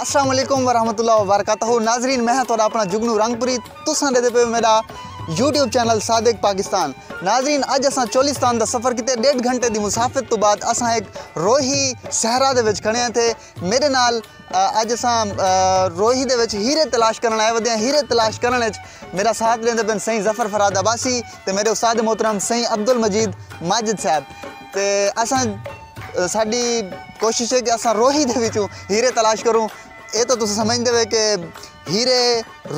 السلام علیکم ورحمۃ اللہ وبرکاتہ ناظرین میں تھوڑا اپنا جگنو رنگ پوری تساں دے پہ میرا یوٹیوب چینل صادق پاکستان ناظرین اج اساں چولستان دا سفر کیتے ڈیڑھ گھنٹے دی مسافت تو بعد اساں ایک روہی صحرا دے وچ کھڑے ہیں تھے میڈے نال اج اساں روہی دے وچ ہیرے تلاش کرن آئے ودے ہیں ہیرے تلاش کرن وچ میرا ساتھ دیندے پن سائیں ظفر فراد عباسی تے میرے استاد محترم سائیں عبدالمجید ماجد صاحب تے اساں ساڈی کوشش ہے کہ اساں روہی دے وچوں ہیرے تلاش کروں اے تو تساں سمجھدے ہوئے کہ ہیرے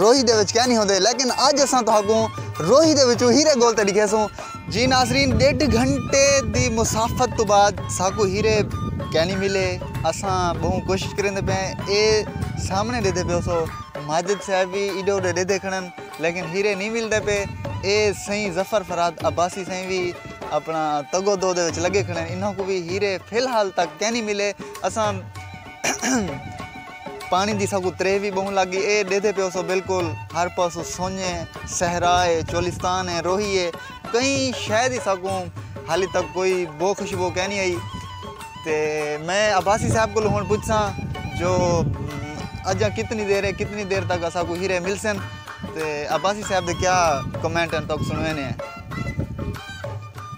روہی دے وچ کینی ہوندے لیکن اج اساں تہاکوں روہی دے وچوں ہیرے گول تے ڈکھیسوں۔ جی ناظرین ڈیڈھ گھنٹے دی مسافت توں بعد ساکوں ہیرے کینی ملے اساں بہوں کوشش کریندے پئے ہیں اے سامنے ڈیدھے پیو سو ماجد صاحب وی ایڈے اوڈے ڈیدھے کھڑن لیکن ہیرے نی ملدے پئے اے سئیں ظفر فرہاد عباسی سئیں وی اپنا تگ و دو دے وچ لگے کھڑن انہاں کوں وی ہیرے فی الحال تک کینی ملے اساں۔ پاݨی دی ساکوں تریہہ وی ٻہوں لڳ ڳی اے ݙیہدے پیوسو بالکل ہر پاسوں سنڄ اے صحرا اے چولستان اے روہی اے کئی شے دی ساکوں حالی تک کوئی بو خوشبو کینی آئی تے میں عباسی صاحب کولوں ہݨ پچھساں جو اڄاں کتنی دیر اے کتنی دیر تک اساکوں ہیرے ملسن تے عباسی صاحب دے کیا کمنٹ ہن تہاکوں سݨویندے ہیں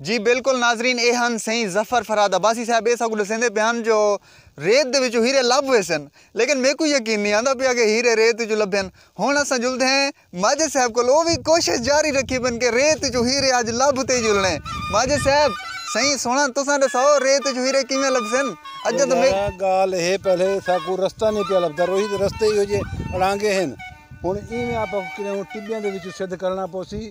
جی بالکل ناظرین اے ہن سئیں ظفر فرہاد عباسی صاحب اے ساکوں ڈسیندے پئے ہن جو ریت دے وچوں ہیرے لبھ ویسن لیکن میکوں یقین نی آندا پیا کہ ہیرے ریت وچوں لبھن ہن اساں جلدے ہیں ماجد صاحب کول او وی کوشش جاری رکھی پن کہ ریت وچوں ہیرے اج لبھ تے جلنے ماجد صاحب سئیں سوہݨا تساں ڈساؤ ریت وچوں ہیرے کیویں لبھسن اجاں تاں میکوں گالھ اے پہلے ساکوں رستہ نی پیا لبھدا روہی دے رستے ایہو جے اڑانگے ہن ہن ایویں آپاں کوں کریوں ٹبیاں دے وچوں سدھ کرݨا پوسی۔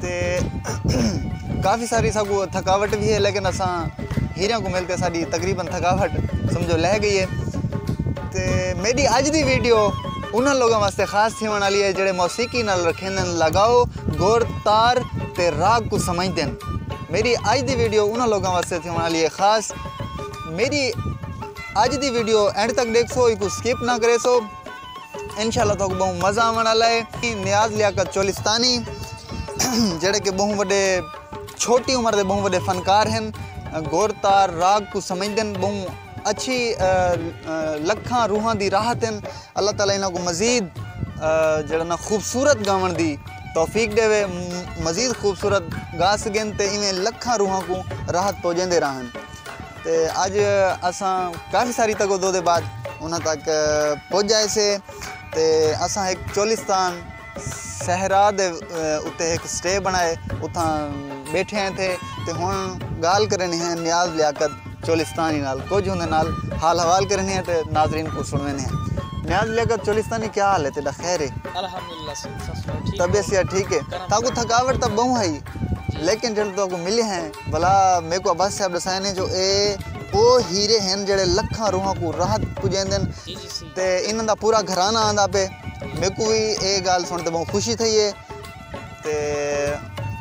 تے کافی ساری ساکوں تھکاوٹ وی ہے لیکن اساں ہیریاں کوں مل کے ساڈی تقریبا تھکاوٹ سمجھو لہہ گئی ہے تے میڈی اج دی ویڈیو انہاں لوگاں واسطے خاص تھیونڑ والی ہے جیڑھے موسیقی نال رکھیندن لگاؤ گور تار تے راگ کوں سمجھدن میڈی اج دی ویڈیو انہاں لوگاں واسطے تھیونڑ والی ہے خاص میڈی اج دی ویڈیو اینڈ تک ڈیکھسو ایکوں سکپ نہ کریسو انشاءاللہ توکوں بہوں مزہ آون آلا ہے نیاز لیاقت چولستانی جیڑے کہ بہوں وڈے چھوٹی عمر دے بہوں وڈے فنکار ہن گور تار راگ کو سمجھدن بہوں اچھی لکھاں روحاں دی راحت ہن اللہ تعالی انہاں کو مزید جیڑا نا خوبصورت گاون دی توفیق ڈیوے مزید خوبصورت گا سگن تے ایویں لکھاں روحاں کو راحت پوجیندے راہن۔ تے اج اساں کافی ساری تگو دو دے بعد انہاں تک پج جائے سے تے اساں ہک چولستان صحرا دے اتے ہک سٹے بنائے اتھاں بیٹھے ہیں تھے تے ہن گال کرنی ہیں نیاز لیاقت چولستانی نال کچھ ہوندے نال حال حوال کرنی ہیں تے ناظرین کو سنوینے ہیں نیاز لیاقت چولستانی کیا حال ہے تیرا خیر ہے الحمدللہ سب سب ٹھیک طبیعت ٹھیک ہے تاکو تھکاوٹ تب بہوں ہے لیکن جلد تاکو ملے ہیں ولا میکوں عباسی صاحب ݙسائے نے جو اے او ہیرے ہن جیڑھے لکھاں روحاں کوں راحت پجیندن تے انہاں دا پورا گھرانہ آندا پئے میکوں وی اے گالھ سݨ تے بہوں خوشی تھئی اے تے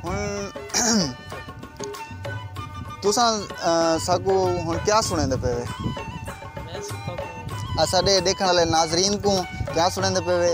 ہن تساں ساکوں ہن کیا سݨیندے پئے وے اساݙے ݙیکھݨ آلے ناظرین کوں کیا سݨیندے پئے وے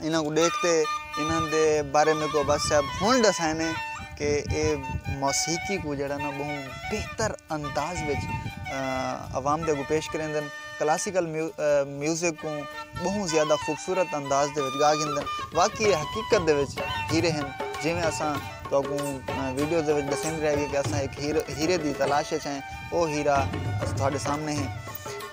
انہاں کوں ݙیکھ تے انہاں دے بارے میکوں عباس صاحب ہݨ ݙسائیندے کہ اے موسیقی کوں جیڑھا نہ ٻہوں بہتر انداز وچ عوام دے اڳوں پیش کریندن کلاسیکل میوزک کوں ٻہوں زیادہ خوبصورت انداز دے وچ ڳا گھندن واقعی اے حقیقت دے وچ ہیرے ہن جیویں اساں تہاکوں ویڈیو دے وچ ݙسیندے رہ ڳے کہ اساں ہک ہیرے دی تلاش وچ ہیں او ہیرا تہاݙے سامنے ہیں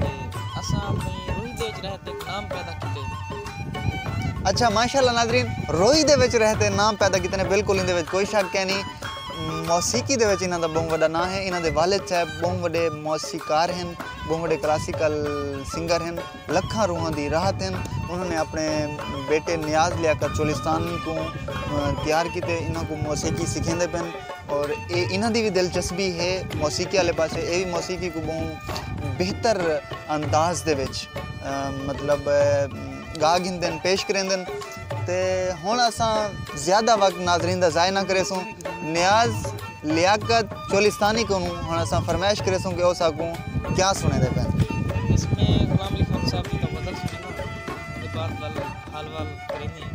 تے اساں اپݨی روہی دے وچ رہ تے نام پیدا کیتے۔ اچھا ماشاء اللہ ناظرین روہی دے وچ رہ تے نام پیدا کیتے نے بالکل ایندے وچ کوئی شک کینی موسیقی دے وچ انہاں دا ٻہوں وݙا ناں ہے انہاں دے والد صاحب ٻہوں وݙے موسیقار ہن ٻہوں وݙے کلاسیکل سنگر ہن لکھاں روحاں دی راحت ہن انہاں نے اپݨے بیٹے نیاز لیاقت چولستانی کوں تیار کیتے انہاں کوں موسیقی سکھیندے پئن۔ اور اے انہاں دی وی دلچسپی ہے موسیقی والے پاسے اے وی موسیقی کوں ٻہوں بہتر انداز دے وچ مطلب گا گھندن پیش کریندن تے ہݨ اساں زیادہ وقت ناظرین دا ضائع نہ کریسوں نیاز لیاقت چولستانی کنوں ہݨ اساں فرمائش کریسوں کہ او ساکوں کیا سݨیندے پئن۔ بس میں غلام علی خان صاحب دی دا غزل سݨینداں۔ اودے بعد ول حال وال کریندے ہیں۔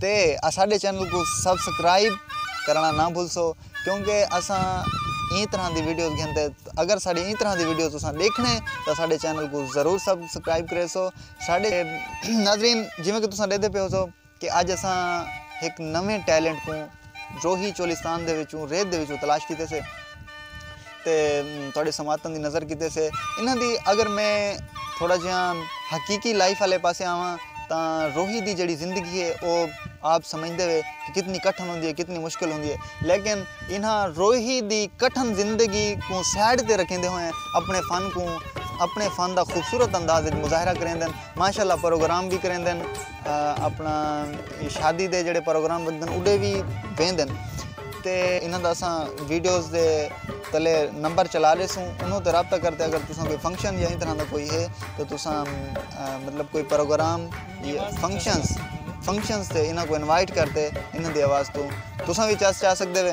تے اساڈے چینل کوں سبسکرائب کرنڑاں نہ بھلسو کیونکہ اساں ایں طرح دی ویڈیوز گھن تے اگر ساڈی ایں طرح دی ویڈیوز تساں ڈیکھنے تاں ساڈے چینل کوں ضرور سبسکرائب کریسو ساڈے ناظرین جیویں کہ تساں ڈیکھدے پیو سو کہ اج اساں ہک نویں ٹیلنٹ کوں روہی چولستان دے وچوں ریت دے وچوں تلاش کیتے سے تے تہاڈے سماعتاں دی نظر کیتے سے انہاں دی اگر میں تھوڑا جیہاں حقیقی لائف والے پاسے آواں تاں روہی دی جڑی زندگی ہے او آپ سمجھدے ہوئے کہ کتنی کٹھن ہوندی ہے کتنی مشکل ہوندی ہے لیکن انہاں روہی دی کٹھن زندگی کوں سائڈ تے رکھیندے ہوئے اپنے فن کوں اپنے فن دا خوبصورت انداز مظاہرہ کریندن ماشاءاللہ پروگرام بھی کریندن اپنا شادی دے جڑے پروگرام بندن اڈے وی بیندن تے انہاں دا اساں ویڈیوز دے تلے نمبر چلا ریسوں انہوں تے رابطہ کرتے اگر تساں کوئی فنکشن یا طرح دا کوئی ہے تو تساں مطلب کوئی پروگرام فنکشنز فنکشنز تے انہاں کو انوائٹ کرتے انہاں دی آواز تو تساں وی چاہ سکدے وے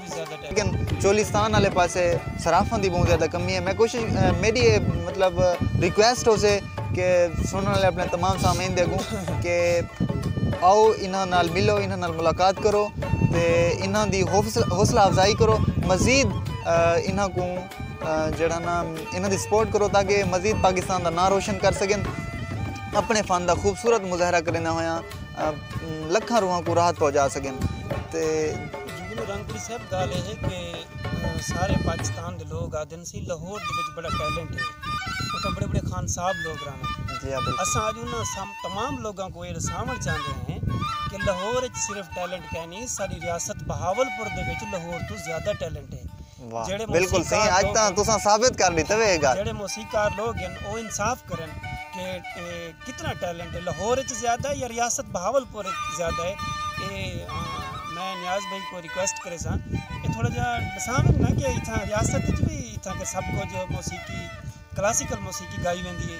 لیکن چولستان آلے پاسے صرافاں دی بہوں زیادہ کمی ہے میں کوشش میڈی اے مطلب ریکویسٹ ہو سے کہ سنن والے اپنے تمام سامعین دے اگوں کہ آؤ انہاں نال ملو انہاں نال ملاقات کرو تے انہاں دی حوصلہ افزائی کرو مزید انہاں کوں جڑا نا انہاں دی سپورٹ کرو تاکہ مزید پاکستان دا ناں روشن کر سکن اپنے فن دا خوبصورت مظاہرہ کریندے ہویاں لکھاں روحاں کوں راحت پہنچا سکن تے میکوں رنگ پوری صاحب گالھ اے ہے کہ سارے پاکستان دے لوگ آہدن سی لہور دے وچ بڑا ٹیلنٹ ہے اتھاں بڑے بڑے خان صاحب لوگ رہون جی ہاں بالکل اساں اج انہاں سام تمام لوگاں کو اے رساون چاہندے ہیں کہ لہور وچ صرف ٹیلنٹ کینی ساڈی ریاست بہاول پور دے وچ لہور توں زیادہ ٹیلنٹ ہے واہ بالکل صحیح اج تاں تساں ثابت کر ڈیتا وے اے گال جیڑے موسیقار لوگ ہن او انصاف کرن کہ کتنا ٹیلنٹ ہے لاہور اچ زیادہ ہے یا ریاست بہاولپور اچ زیادہ ہے اے میں نیاز بھائی کو ریکویسٹ کریساں کہ تھوڑا جا ڈساون نا کہ اتھاں ریاست اچ وی اتھاں کہ سب کچھ موسیقی کلاسیکل موسیقی گائی ویندی ہے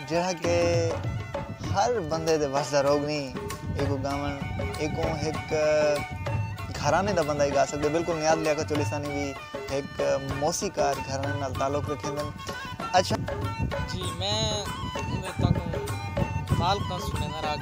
جیڑھا کہ ہر بندے دے وس دا روگ نی ایکوں گاون ایکوں ہک گھرانے دا بندہ ہی گا سگدے بالکل نیاز لیاقت چولیسانی وی ہک موسی کار گھرانے نال تعلق رکھیندن اچھا جی میں تاکوں خالقاں سنینداں راگ۔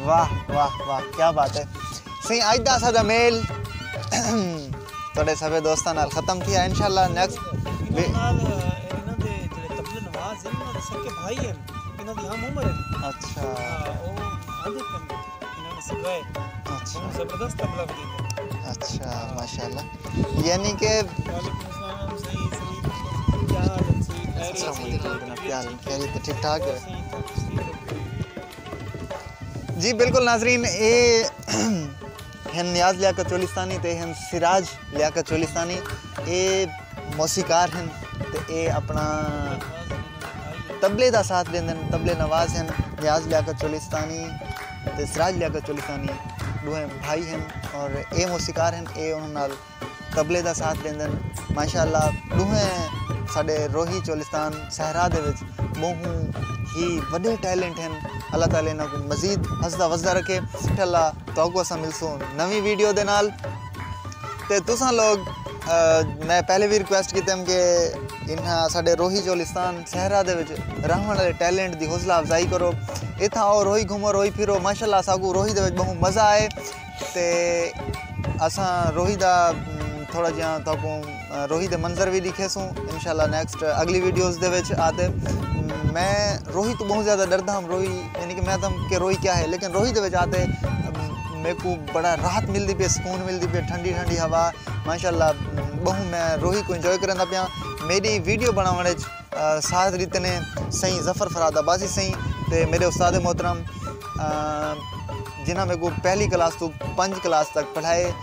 واہ واہ واہ کیا بات ہے سائیں اج دا اساڈا میل تہاڈے سبھے دوستاں نال ختم تھیا انشاءاللہ نیکسٹ اچھا اچھا ماشاءاللہ یعنی کہ ٹھیک ٹھاک ہے جی بالکل ناظرین اے ہن نیاز لیا چولستانی تے ہن سراج لیا چولستانی اے موسیقار ہن تے اے اپنا تبلے دا ساتھ دیندن تبلے نواز ہن نیاز لیا چولستانی تے سراج لیاقت چولیسانی ݙوہیں بھائی ہن اور اے موسیقار ہن اے انہاں نال طبلے دا ساتھ ݙیندن ماشاء اللہ ݙوہیں ساݙے روہی چولستان صحرا دے وچ ٻہوں ہی وݙے ٹیلنٹ ہن اللہ تعالی انہاں کوں مزید ہسدا وسدا رکھے انشاء اللہ تہاکوں اساں ملسوں نویں ویڈیو دے نال تے تساں لوگ میں پہلے بھی ریکویسٹ کیتے ہم کہ انہاں ساڈے روہی چولستان صحرا دے وچ رہن والے ٹیلنٹ دی حوصلہ افزائی کرو اتھاں او روہی گھومو روہی پھرو ماشاء اللہ اساکو روہی دے وچ بہوں مزہ آئے تے اساں روہی دا تھوڑا جیاں تہاکوں روہی دے منظر وی ڈیکھے سوں انشاءاللہ نیکسٹ اگلی ویڈیوز دے وچ آتے میں روہی تو بہت زیادہ ڈردا ہم روہی یعنی کہ میں تم کہ روہی کیا ہے لیکن روہی دے وچ آتے میرے کو بڑا راحت ملدی پی سکون ملدی پی ٹھنڈی ٹھنڈی ہوا ماشاءاللہ بہت میں روہی کو انجوائے کرندا پیا میری ویڈیو بناون وچ ساتھ دیتے نے سائیں ظفر فراد آبازی سائیں تے میرے استاد محترم جنہاں میرے کو پہلی کلاس تو پنج کلاس تک پڑھائے